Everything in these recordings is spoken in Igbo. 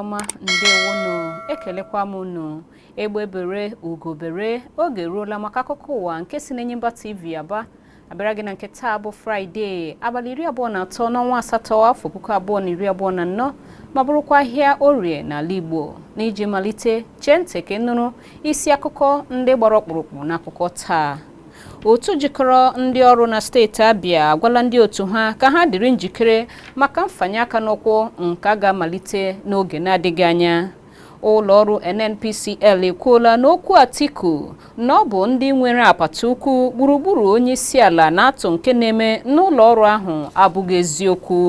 ọma ndewonụ ekelekwa m unu egbe bere ugo bere oge eruola maka akụkọ ụwa nke si n'Enyimba TV Aba abịara gị na nke taa bụ fraịde abalị iri abụọ na atọ n'ọnwa asatọ afọ puku abụọ na iri abụọ na anọ ma bụrụkwa ahịa orie n'ala igbo n'iji malite chee ntị ka ị nụrụ isi akụkọ ndị gbara ọkpụrụkpụ n'akụkọ taa otu jikọrọ ndị ọrụ na steeti Abia agwala ndị otu ha ka ha dịrị njikere maka mfanye aka n'ụkwụ nke a ga-amalite n'oge na-adịghị anya ụlọọrụ NNPCL ekwuola n'okwu Atiku na ọ bụ ndị nwere apata ukwu gburugburu onye isi ala na-atụ nke na-eme n'ụlọọrụ ahụ abụghị eziokwu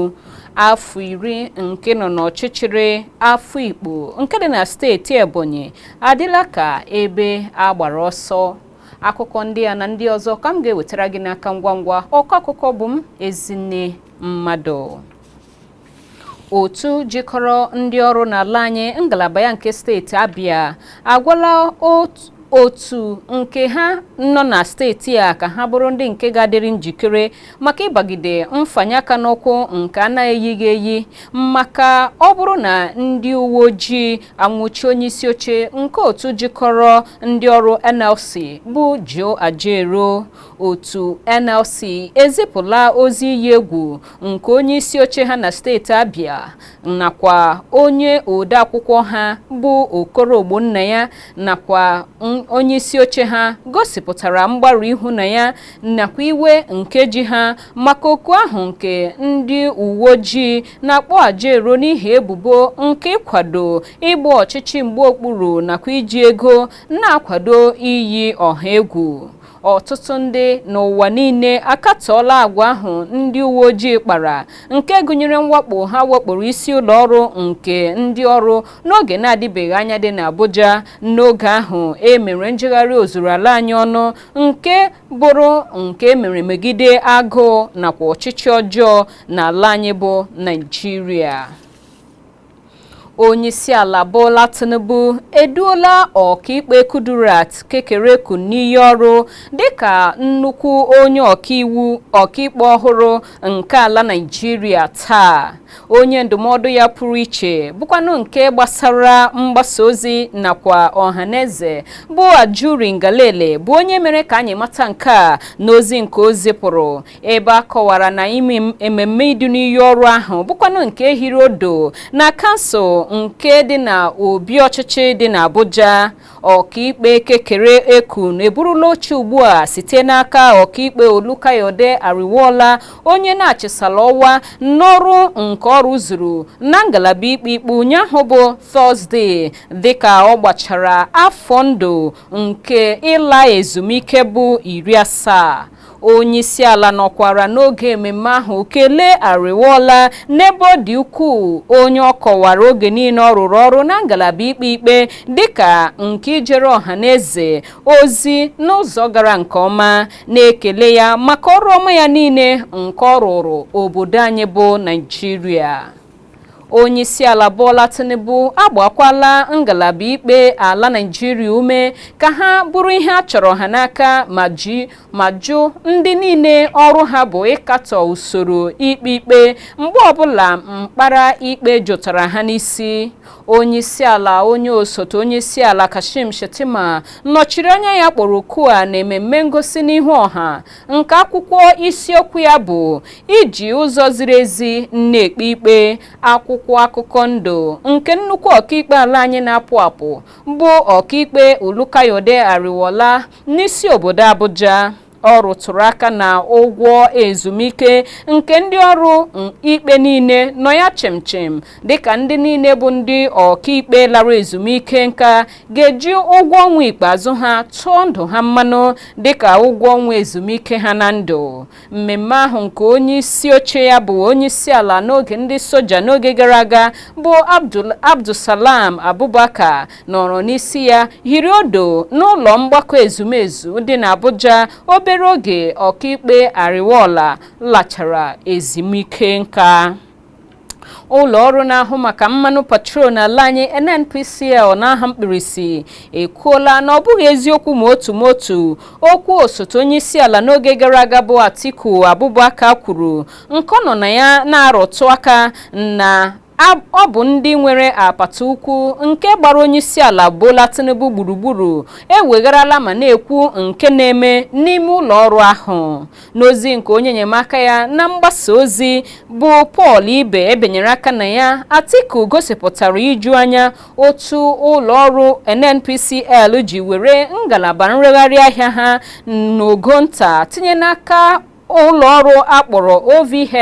afọ iri nke ịnọ n'ọchịchịrị Afikpo nke dị na steeti Ebonyi adịla ka ebe a gbara ọsọ akụkọ ndị a na ndị ọzọ ka m ga-ewetara gị n'aka ngwa ngwa ọkọ akụkọ bụ m Ezinne Mmadụ otu jikọrọ ndị ọrụ n'ala anyị ngalaba ya nke steeti Abia agwala otu nke ha nọ na steeti a ka ha bụrụ ndị nke ga-adịrị njikere maka ịbagide mfanye aka n'ụkwụ nke a na-eyighị eyi maka ọ bụrụ na ndị uwe ojii anwụchie onye isi oche nke otu jikọrọ ndị ọrụ NLC bụ Joe Ajaero otu NLC ezipụla ozi iyi egwu nke onye isi oche ha na steeti Abia nakwa onye odeakwụkwọ ha bụ Okoro Ogbonnaya nakwa onye isi oche ha gosipụtara mgbarụ ihu na ya nakwa iwe nke ji ha maka oku ahụ nke ndị uwe ojii na-akpọ Ajaero n'ihi ebubo nke ịkwado ịgba ọchịchị mgba okpuru nakwa iji ego na-akwado iyi ọha egwu Ọtụtụ ndị n'ụwa niile akatọọla agwa ahụ ndị uwe ojii kpara nke gụnyere mwakpo ha wakporo isi ụlọ ọrụ nke ndị ọrụ n'oge na-adịbeghị anya dị n'Abuja n'oge ahụ e mere njegharị ozuru ala anyị ọnụ nke bụrụ nke e mere megide agụụ nakwa ọchịchị ọjọọ n'ala anyị bụ Naịjirịa Onyeisiala Bola Tinubu eduola ọkaikpe Kudirat Kekere-Ekun n'iyi ọrụ dịka nnukwu onye ọkaikpe ọhụrụ nke ala Naịjirịa taa. Onye ndụmọdụ ya pụrụ iche bụkwanụ nke gbasara mgbasa ozi nakwa ọhaneze bụ Ajuri Ngelale bụ onye mere ka anyị mata nke a n'ozi nke o zipụrụ ebe a kọwara na ime ememme idu n'iyi ọrụ ahụ bụkwanụ nke hiri odo na kansụl nke dị na obi ọchịchị dị n'Abuja ọkaikpe Kekere-Ekun eburula oche ugbu a site n'aka ọkaikpe Olukayode Ariwoola onye na-achịsala ọwa n'ọrụ nke ọ rụzuru na ngalaba ikpe ikpe ụnyaahụ bụ Tọzdee dịka ọ gbachara afọ ndụ nke ịla ezumike bụ iri asaa Onyeisiala nọkwara n'oge ememme ahụ kelee Ariwoola n'ebe ọ dị ukwuu onye ọ kọwara oge niile ọ rụrụ ọrụ na ngalaba ikpe ikpe dịka nke ijere ọha na eze ozi n'ụzọ gara nke ọma, na-ekele ya maka ọrụ ọma ya niile nke ọ rụụrụ obodo anyị bụ Naịjirịa. onyeisiala Bola Tinubu agbaakwala ngalaba ikpe ala Naịjirịa ume ka ha bụrụ ihe a chọrọ ha n'aka ma ji ma jụ ndị niile ọrụ ha bụ ịkatọ usoro ikpe ikpe mgbe ọbụla mkpara ikpe jụtara ha n'isi onyeisiala onye osote onyeisiala Kashim Shettima nọchiri anya ya kpọrọ oku a na ememme ngosi n'ihu ọha nke akwụkwọ isiokwu ya bụ iji ụzọ ziri ezi na-ekpe ikpe akwụkwọ akụkọ ndụ nke nnukwu ọkaikpe ala anyị na-apụ apụ bụ ọkaikpe Olukayode Ariwoola n'isi obodo Abuja ọ rụtụrụ aka na ụgwọ ezumike nke ndị ọrụ ikpe niile nọ ya chịmchịm dịka ndị niile bụ ndị ọkaikpe lara ezumike nka ga-eji ụgwọ ọnwa ikpeazụ ha tụọ ndụ ha mmanụ dịka ụgwọ ọnwa ezumike ha na ndụ mmemme ahụ nke onye isi oche ya bụ onye isi ala n'oge ndị soja n'oge gara aga bụ Abdulsalam Abubakar nọrọ n'isi ya hiri odo n'ụlọ mgbakọ ezumezu dị n'Abuja obere oge ọkaikpe Ariwoola lachara ezumike nka ụlọ ọrụ na-ahụ maka mmanụ petrol n'ala anyị NNPCL n'aha mkpirisi ekwuola na ọ bụghị eziokwu ma otu ma otu okwu osote onye isi ala n'oge gara aga bụ Atiku Abubakar kwuru nke ọ nọ na ya na-arụtụ aka na ọ bụ ndị nwere apata ukwu nke gbara onye isi ala Bola Tinubu gburugburu ewegharala ma na-ekwu nke na-eme n'ime ụlọ ọrụ ahụ n'ozi nke onye enyemaka ya na mgbasa ozi bụ Paul Ibe binyere aka na ya Atiku gosipụtara iju anya otu ụlọ ọrụ NNPCL ji were ngalaba nregharị ahịa ha n'ogo nta tinye n'aka ụlọ ọrụ a kpọrọ OVH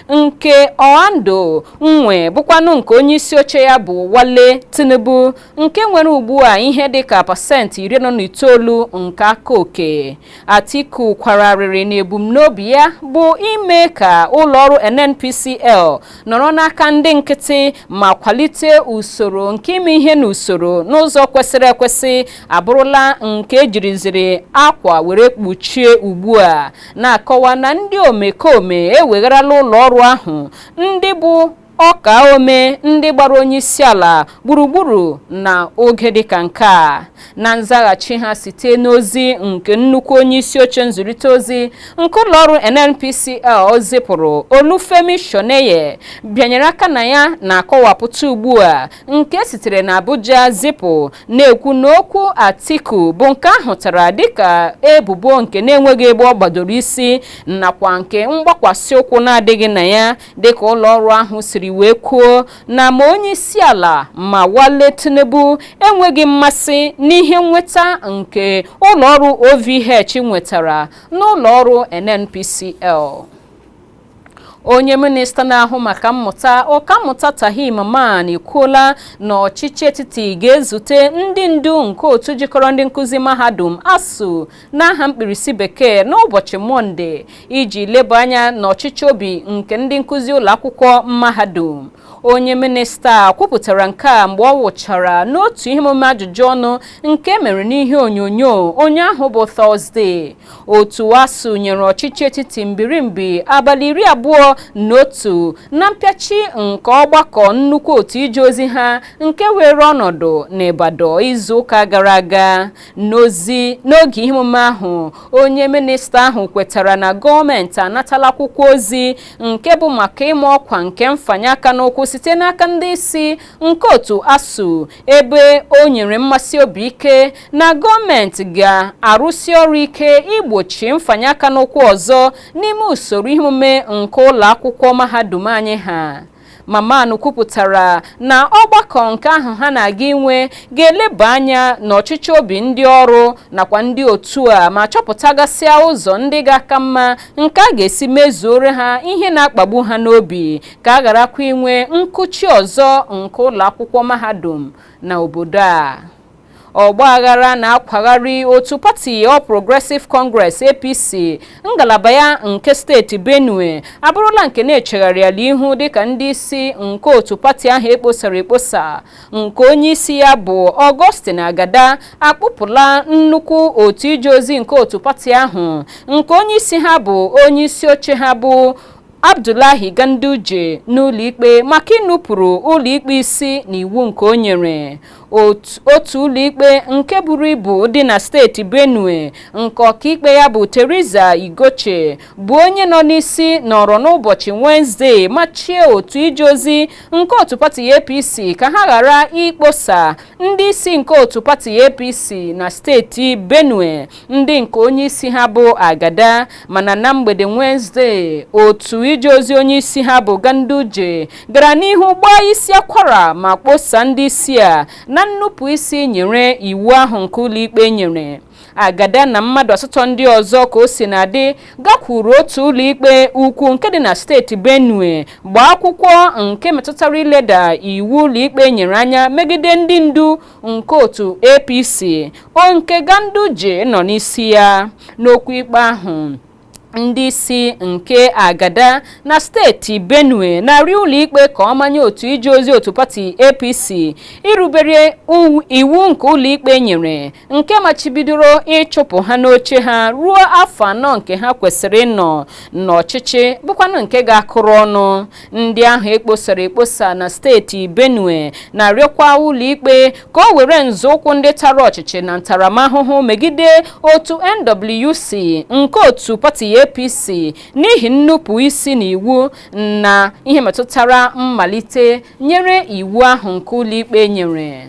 nke Oando nwe bụkwanụ nke onye isi oche ya bụ Wale Tinubu nke nwere ugbu a ihe dịka pasentị iri anọ na itoolu nke aka oke Atiku kwara arịrị na ebumnobi ya bụ ime ka ụlọọrụ NNPCL nọrọ n'aka ndị nkịtị ma kwalite usoro nke ime ihe n'usoro n'ụzọ kwesịrị ekwesị abụrụla nke e jiriziri akwa were kpuchie ugbu a na-akọwa na ndị omekome ewegharala ụlọọrụ ahụ ndị bụ ọka ome ndị gbara onye isi ala gburugburu na oge dịka nke a na nzaghachi ha site n'ozi nke nnukwu onye isi oche nzụrịta ozi nke ụlọọrụ NNPCL zipụrụ Olufemi Soneye bịanyere aka na ya na-akọwapụta ugbu a nke e sitere na Abuja zipụ na-ekwu na okwu Atiku bụ nke a hụtara dịka ebubo nke na-enweghị ebe ọ gbadoro isi nakwa nke mgbakwasị ụkwụ na-adịghị na ya dịka ụlọọrụ ahụ siri wee kwuo na ma onye isi ala ma Wale Tinubu enweghị mmasị n'ihe nnweta nke ụlọọrụ OVH nwetara n'ụlọọrụ NNPCL onye minista na-ahụ maka mmụta ọkammụta Tahir Mamman ekwuola na ọchịchị etiti ga-ezute ndị ndu nke otu jikọrọ ndị nkụzi mahadum ASUU n'aha mkpirisi bekee n'ụbọchị mọnde iji leba anya n'ọchịchọ obi nke ndị nkụzi ụlọ akwụkwọ mahadum onye minista kwupụtara nke a mgbe ọ wụchara n'otu ihe omume ajụjụ ọnụ nke e mere n'ihe onyonyo ụnyaahụ bụ tọzde otu ASUU nyere ọchịchị etiti mbirimbi abalị iri abụọ na otu na mpịachi nke ọgbakọ nnukwu otu ije ozi ha nke weere ọnọdụ n'Ibadan izu ụka gara aga N'ozi n'oge ihe omume ahụ, onye minista ahụ kwetara na gọọmenti anatala akwụkwọ ozi nke bụ maka ịma ọkwa nke mfanye aka n'ụkwụ site n'aka ndị isi nke otu ASUU ebe o nyere mmesi obi ike na gọọmenti ga-arụsi ọrụ ike igbochi mfanye aka n'ụkwụ ọzọ n'ime usoro ihe omume nke ụlọ akwụkwọ mahadum anyị ha. Mamman kwupụtara na ọgbakọ nke ahụ ha na-aga inwe ga-eleba anya n'ọchịchọ obi ndị ọrụ nakwa ndị otu a ma chọpụtagasịa ụzọ ndị ga-aka mma nke a ga-esi mezuore ha ihe na-akpagbu ha n'obi ka a gharakwa inwe nkụchi ọzọ nke ụlọ akwụkwọ mahadum na obodo a ọgbaghara na-akwagharị otu pati All Progressive Congress APC ngalaba ya nke steeti Benue abụrụla nke na-echegharịala ihu dịka ndị isi nke otu pati ahụ e kposara ekposa nke onye isi ya bụ Augustine Agada akpụpụla nnukwu otu ije ozi nke otu pati ahụ nke onye isi ha bụ onye isi oche ha bụ Abdullahi Ganduje n'ụlọikpe maka inupụrụ ụlọikpe isi n'iwu nke o nyere Ot- otu ụlọikpe nke buru ibu dị na steeti benue nke ọkaikpe ya bụ teresa igoche bụ onye nọ n'isi nọrọ n'ụbọchị wenesde machie otu ije ozi nke otu pati apc ka ha ghara ikposa ndị isi nke otu pati apc na steeti benue ndị nke onye isi ha bụ agada mana na mgbede wenesde otu ije ozi onye isi ha bụ ganduje gara n'ihu gbaa isi akwara ma kposa ndị isi a na nnupụ isi nyere iwu ahụ nke ụlọikpe nyere agada na mmadụ asatọ ndị ọzọ ka o si na-adị gakwuru otu ụlọikpe ukwu nke dị na steeti benue gbaa akwụkwọ nke metụtara ileda iwu ụlọikpe nyere anya megide ndị ndu nke otu apc o nke ganduje nọ n'isi ya n'okwu ikpe ahụ ndị isi nke agada na steeti benue na-arịọ ụlọikpe ka ọ manye otu ije ozi otu pati apc irubere iwu nke ụlọikpe nyere nke machibidoro ịchụpụ ha n'oche ha ruo afọ anọ nke ha kwesịrị ịnọ n'ọchịchị bụkwanụ nke ga-akụrụ ọnụ ndị ahụ e kposara ekposa na steeti benue na-arịọkwa ụlọikpe ka o were nzọụkwụ ndị tara ọchịchị na ntaramahụhụ megide otu nwc nke otu pati apc n'ihi nnupụ isi na iwu na ihe metụtara mmalite nyere iwu ahụ nke ụlọikpe nyere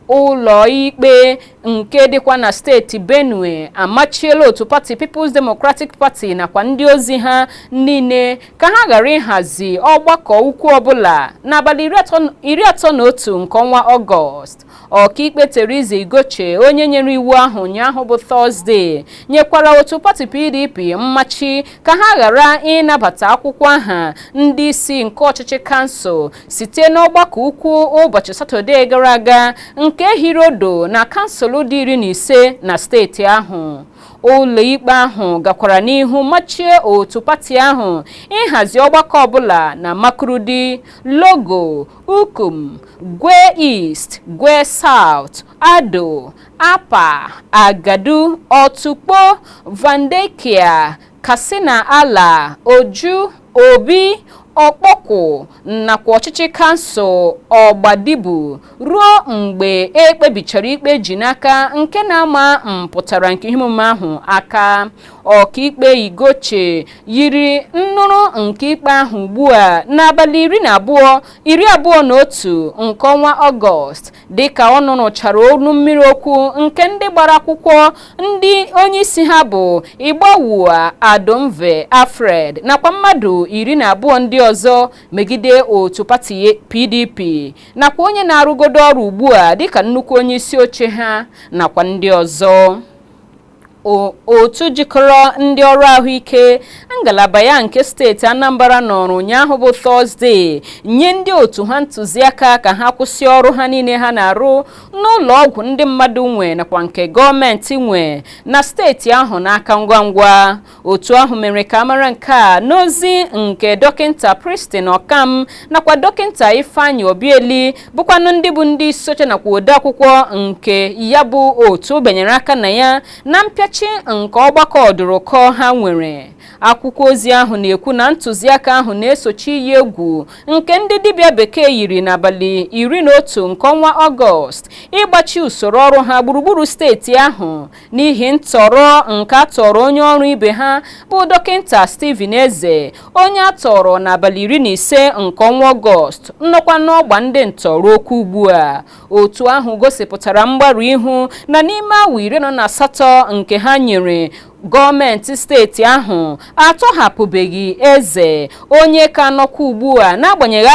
Ụlọikpe nke dịkwa na steeti Benue amachiela otu pati People's Democratic Party nakwa ndị ozi ha niile ka ha ghara ịhazi ọgbakọ ukwu ọbụla n'abalị iri atọ na otu nke ọnwa Ọgọst. Ọkaikpe Theresa Igoche onye nyere iwu ahụ ụnyaahụ bụ Tọzde nyekwara otu pati PDP mmachi ka ha ghara ịnabata akwụkwọ aha ndị isi nke ọchịchị kansụl site n'ọgbakọ ukwu ụbọchị satọdee gara aga nke hiri odo na kansụl dị iri na ise na steeti ahụ ụlọikpe ahụ gakwara n'ihu machie otu pati ahụ ịhazi ọgbakọ ọbụla na makurdi logo ukum gwer east gwer south ado apa agatu otukpo vandeikya katsina ala oju Obi, Okpokwu nakwa ọchịchị kansụl Ogbadibo ruo mgbe e kpebichara ikpe e ji n'aka nke na-ama mpụtara nke ihe omume ahụ aka. Ọkaikpe Igoche yiri nnụrụ nke ikpe ahụ ugbu a n'abalị iri na abụọ, iri abụọ na otu nke ọnwa Ọgọst dịka ọ nụrụchara ọnụ mmiri okwu nke ndị gbara akwụkwọ ndị onyeisi ha bụ Igbawua Adomve Alfred nakwa mmadụ iri na abụọ ndị ọzọ megide otu pati PDP nakwa onye na-arụgodo ọrụ ugbu a dịka nnukwu onyeisi oche ha nakwa ndị ọzọ Otu jikọrọ ndị ọrụ ahụike ngalaba ya nke steeti anambra nọrọ ụnyaahụ bụ tọzdee nye ndị otu ha ntụziaka ka ha kwụsị ọrụ ha niile ha na-arụ n'ụlọ ọgwụ ndị mmadụ nwe nakwa nke gọọmenti nwe na steeti ahụ n'aka ngwa ngwa otu ahụ mere ka a mara nke a n'ozi nke dọkịnta Princeston Okam nakwa dọkịnta Ifeanyi Obiaeli bụkwanụ ndị bụ ndị isi oche nakwa odeakwụkwọ nke ya bụ otu benyere aka na ya na mpịachi nke ọgbakọ ọdụrụkọ ha nwere akwụkwọ ozi ahụ na-ekwu na ntụziaka ahụ na-esochi iyi egwu nke ndị dibịa bekee yiri n'abalị iri na otu nke ọnwa ọgọst ịgbachi usoro ọrụ ha gburugburu steeti ahụ n'ihi ntọrọ nke a tọrọ onye ọrụ ibe ha bụ dọkịnta Stephen Eze onye a tọrọ n'abalị iri na ise nke ọnwa Ọgọst nọkwa n'ọgba ndị ntọ ruokwa ugbu a otu ahụ gosipụtara mgbarụ ihu na n'ime awa iri anọ na asatọ nke ha nyere gọọmenti steeti ahụ atọhapụbeghị Eze onye ka nọkwa ugbu a n'agbanyeghị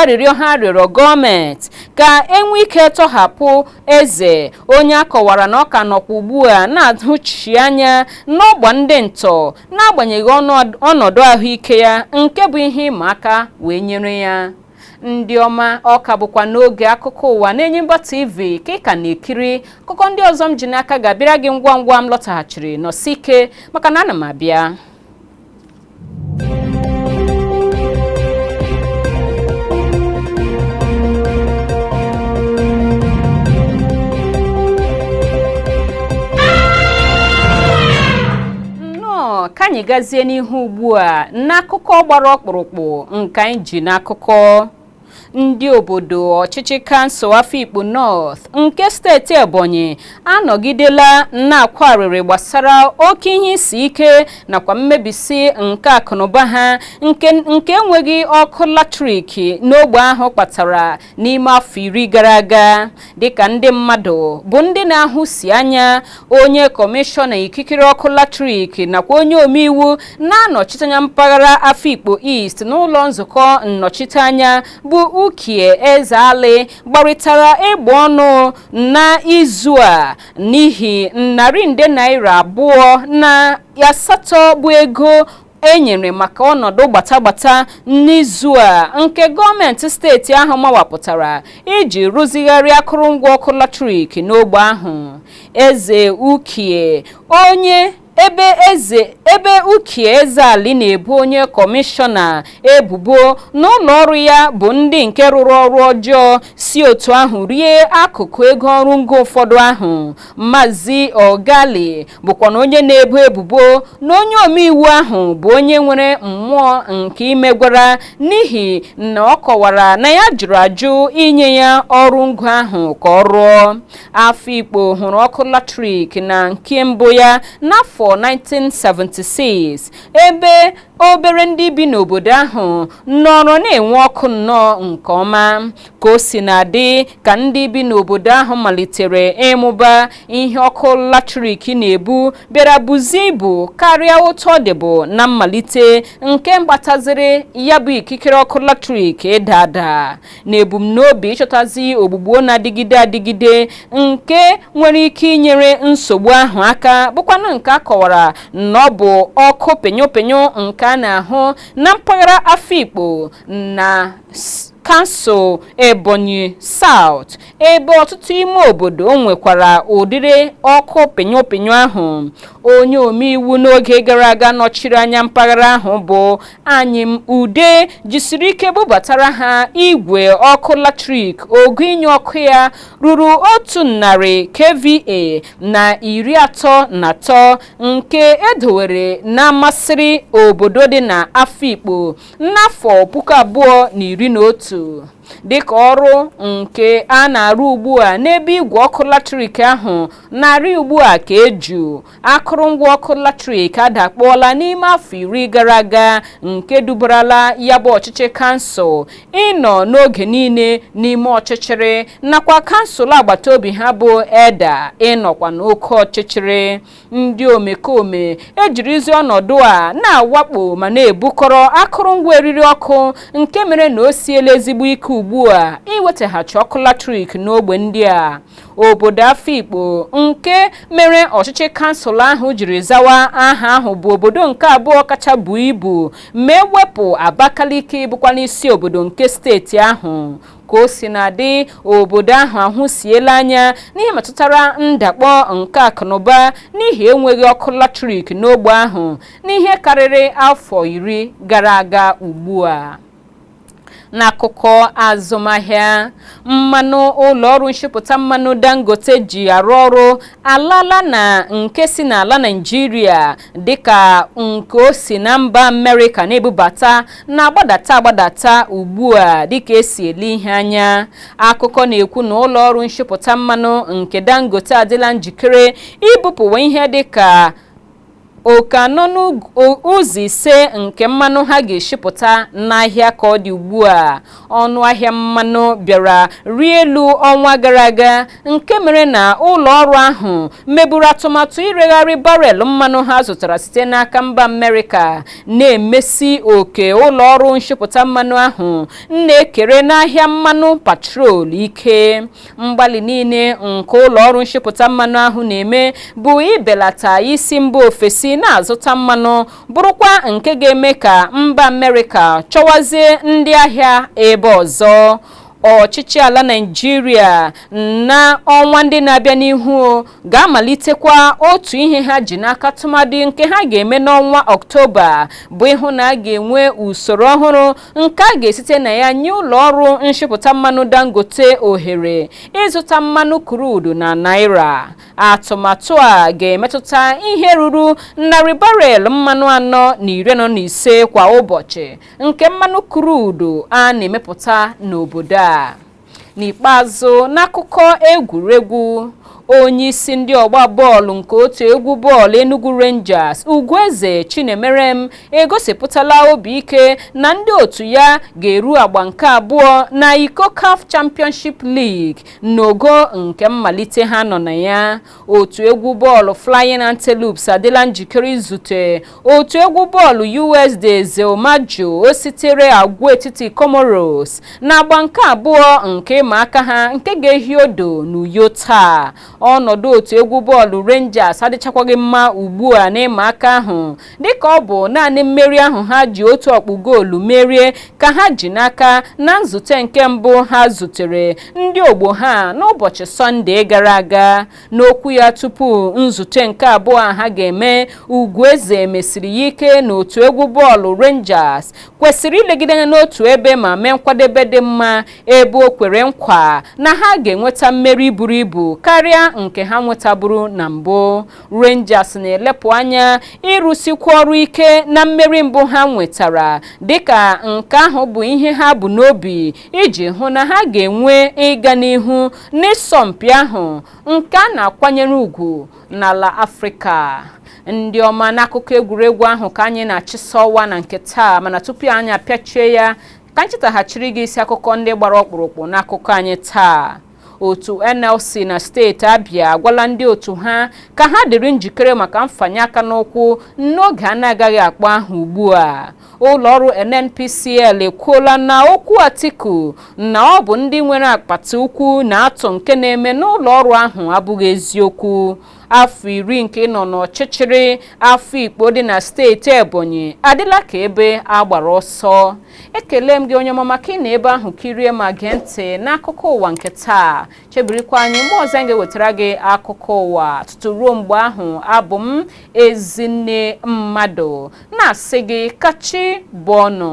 arịrịọ ha rịọrọ gọọmenti ka e nwee ike tọhapụ Eze, onye a kọwara na ọ ka nọkwa ugbu a na-ahụchi anya n'ọgba ndị ntọ n'agbanyeghị ọnọdụ ahụike ya nke bụ ihe ịma aka wee nyere ya. Ndị ọma, ọ ka bụkwa n'oge akụkọ ụwa n'Enyimba TV ka ị ka na-ekiri. Akụkọ ndị ọzọ m ji n'aka ga-abịara gị ngwa ngwa m lọtaghachiri. Nọsi ike maka na ana m abịa. anyị gazie n'ihu ugbu a n'akụkọ gbara ọkpụrụkpụ nke anyị ji n'akụkọ ndị obodo ọchịchị kansụl Afikpo North nke steeti Ebonyi anọgidela na-akwa arịrị gbasara oke ihe isi ike nakwa mmebisi nke akụnụba ha nke enweghị ọkụ latrik n'ogbe ahụ kpatara n'ime afọ iri gara aga dịka ndị mmadụ bụ ndị na-ahụsi anya onye kọmishọna ikikere ọkụ latrik nakwa onye omeiwu na-anọchite anya mpaghara Afikpo East n'ụlọ nzukọ nnọchiteanya bụ Ukie Ezeali gbarịtara egbe ọnụ n'izu a n'ihi narị nde naira abụọ na asatọ bụ ego e nyere maka ọnọdụ gbatagbata n'izu a nke gọọmenti steeti ahụ mawapụtara iji rụzigharị akụrụngwa ọkụ latrik n'ogbe ahụ eze ukie onye ebe ukie ezeali na-ebu onye kọmishọna ebubo na ụlọ ọrụ ya bụ ndị nke rụrụ ọrụ ọjọọ si otu ahụ rie akụkụ ego ọrụ ngo ụfọdụ ahụ Mazi Ogali bụkwanụ onye na-ebo ebubo na onye omeiwu ahụ bụ onye nwere mmụọ nke imegwara n'ihi na ọ kọwara na ya jụrụ ajụ inye ya ọrụ ngo ahụ ka ọ rụọ Afikpo hụrụ ọkụ latrik na nke mbụ ya n'afọ 1976 ebe obere ndị bi n'obodo ahụ nọrọ na-enwe ọkụ nnọọ nke ọma ka o sina dị ka ndị bi n'obodo ahụ malitere ịmụba ihe ọkụ latrik na-ebu bịara buzie ibu karịa otu ọ dịbụ na mmalite nke kpataziri ya bụ ikikere ọkụ latrik ịda ada na ebumnobi ịchọtazi ogbugbo na-adịgide adịgide nke nwere ike inyere nsogbu ahụ aka bụkwanụ nke a kọwara na ọ bụ ọkụ pịnyụpịnyụ nke a na-ahụ na mpaghara Afikpo na kansụl Ebonyi South ebe ọtụtụ ime obodo nwekwara ụdịrị ọkụ pịnyụpịnyụ ahụ. Onye omeiwu n'oge gara aga nọchiri anya mpaghara ahụ bụ Anyim Ude jisiri ike bubatara ha igwe ọkụ latrik ogo inye ọkụ ya ruru otu narị KVA na iri atọ na atọ nke e dowere n'Amasịrị obodo dị na Afikpo N'afọ puku abụọ na iri na otu, dịka ọrụ nke a na-arụ ugbu a n'ebe igwe ọkụ latrik ahụ na-arị ugbu a ka eju, akụrụngwa ọkụ latrik adakpọọla n'ime afọ iri gara aga nke dubarala ya bụ ọchịchị kansụl ịnọ n'oge niile n'ime ọchịchịrị nakwa kansụl agbata obi ha bụ Edda ịnọkwa n'oke ọchịchịrị. ndị omekome ejirizi ọnọdụ a na-awakpo ma na-ebukọrọ akụrụngwa eriri ọkụ nke mere na o siela ezigbo ike ugbu a iwetaghachi ọkụ latrik n'ogbe ndị a obodo Afikpo nke mere ọchịchị kansụl ahụ jiri zawa aha ahụ bụ obodo nke abụọ kacha buo ibu ma e wepụ Abakaliki bụkwanụ isi obodo nke steeti ahụ ka o sina dị obodo ahụ ahụsiela anya n'ihe metụtara ndakpọ nke akụnụba n'ihi enweghị ọkụ latrik n'ogbe ahụ n'ihe karịrị afọ iri gara aga ugbu a n'akụkọ azụmahịa mmanụ ụlọ ọrụ nchịpụta mmanụ dangote ji arụ ọrụ alala na nke si n'ala naijiria dịka nke o si na mba Amerịka na-ebubata na-agbadata agbadata ugbu a dịka esi ele ihe anya akụkọ na-ekwu na ụlọ ọrụ nshipụta mmanụ nke Dangote adịla njikere ibupụwa ihe dịka oke anọ n'ụzọ ise nke mmanụ ha ga-eshipụta n'ahịa ka ọ dị ugbu a ọnụ ahịa mmanụ bịara rie elu ọnwa gara aga nke mere na ụlọ ọrụ ahụ meburu atụmatụ iregharị barel mmanụ ha zụtara site n'aka mba Amerịka na-emesi oke ụlọ ọrụ nshipụta mmanụ ahụ na-ekere n'ahịa mmanụ petrol ike mgbalị niile nke ụlọ ọrụ nshipụta mmanụ ahụ na-eme bụ ibelata isi mba ofesi na-azụta mmanụ bụrụkwa nke ga-eme ka mba Amerịka chọwazie ndị ahịa ebe ọzọ ọchịchị ala Naịjirịa na ọnwa ndị na-abịa n'ihu ga-amalitekwa otu ihe ha ji n'aka tụmadị nke ha ga-eme n'ọnwa Ọktoba bụ ịhụ na a ga-enwe usoro ọhụrụ nke a ga-esite na ya nye ụlọ ọrụ nshipụta mmanụ Dangote ohere ịzụta mmanụ krudu na naira atụmatụ a ga-emetụta ihe ruru narị barel mmanụ anọ na iri anọ na ise kwa ụbọchị nke mmanụ krudu a na-emepụta n'obodo a n'ikpeazụ n'akụkọ egwuregwu onye isi ndị ọgba bọọlụ nke otu egwu bọọlụ Enugu Rangers Ugwueze Chinemerem egosipụtala obi ike na ndị otu ya ga-eru agba nke abụọ na iko CAF Championship League N'ogo nke mmalite ha nọ na ya, otu egwu bọọlụ Flying Antelopes adịla njikere izute otu egwu bọọlụ US de Zilimadjou sitere agwaetiti Comoros n'agba nke abụọ nke ịma aka ha nke ga-ehi odo n'Uyo taa. Ọnọdụ otu egwu bọọlụ Rangers adịchakwaghị mma ugbu a n'ịma aka ahụ dịka ọ bụ naanị mmeri ahụ ha ji otu ọkpụ goolu merie ka ha ji n'aka na nzute nke mbụ ha zutere ndị ogbo ha n'ụbọchị sọnde gara aga n'okwu ya tupu nzute nke abụọ ha ga-eme Ugwueze mesiri ya ike na otu egwu bọọlụ Rangers kwesịrị ilegide anya n'otu ebe ma mee nkwadebe dị mma ebe o kwere nkwa na ha ga-enweta mmeri buru ibu karịa nke ha nwetaburu na mbụ Rangers na-elepụ anya ịrụsikwa ọrụ ike na mmeri mbụ ha nwetara dịka nke ahụ bụ ihe ha bu n'obi iji hụ na ha ga-enwe ịga n'ihu n'ịsọmpi ahụ nke a na-akwanyere ugwu n'ala Afrịka ndị ọma n'akụkọ egwuregwu ahụ ka anyị na-achịsa ọwa na nke taa mana tupu anyị apịachie ya ka anyị chetaghachiri gị isi akụkọ ndị gbara ọkpụrụkpụ n'akụkọ anyị taa otu NLC na steeti Abia agwala ndị otu ha ka ha dịrị njikere maka mfanye aka n'ụkwụ n'oge a na-agaghị akpọ aha ugbu a ụlọọrụ NNPCL ekwuola na okwu Atiku na ọ bụ ndị nwere akpati ukwu na-atụ nke na-eme n'ụlọọrụ ahụ abụghị eziokwu afọ iri nke ịnọ n'ọchịchịrị Afikpo dị na steeti Ebonyi adịla ka ebe a gbara ọsọ ekele m gị onye ọma maka ịnọ ebe ahụ kirie ma gee ntị n'akụkọ ụwa nke taa chebirikwa anyị mgbe ọzọ anyị ga-ewetara gị akụkọ ụwa tutu ruo mgbe ahụ abụ m Ezinne Mmadụ na-asị gị ka chi bọọ nụ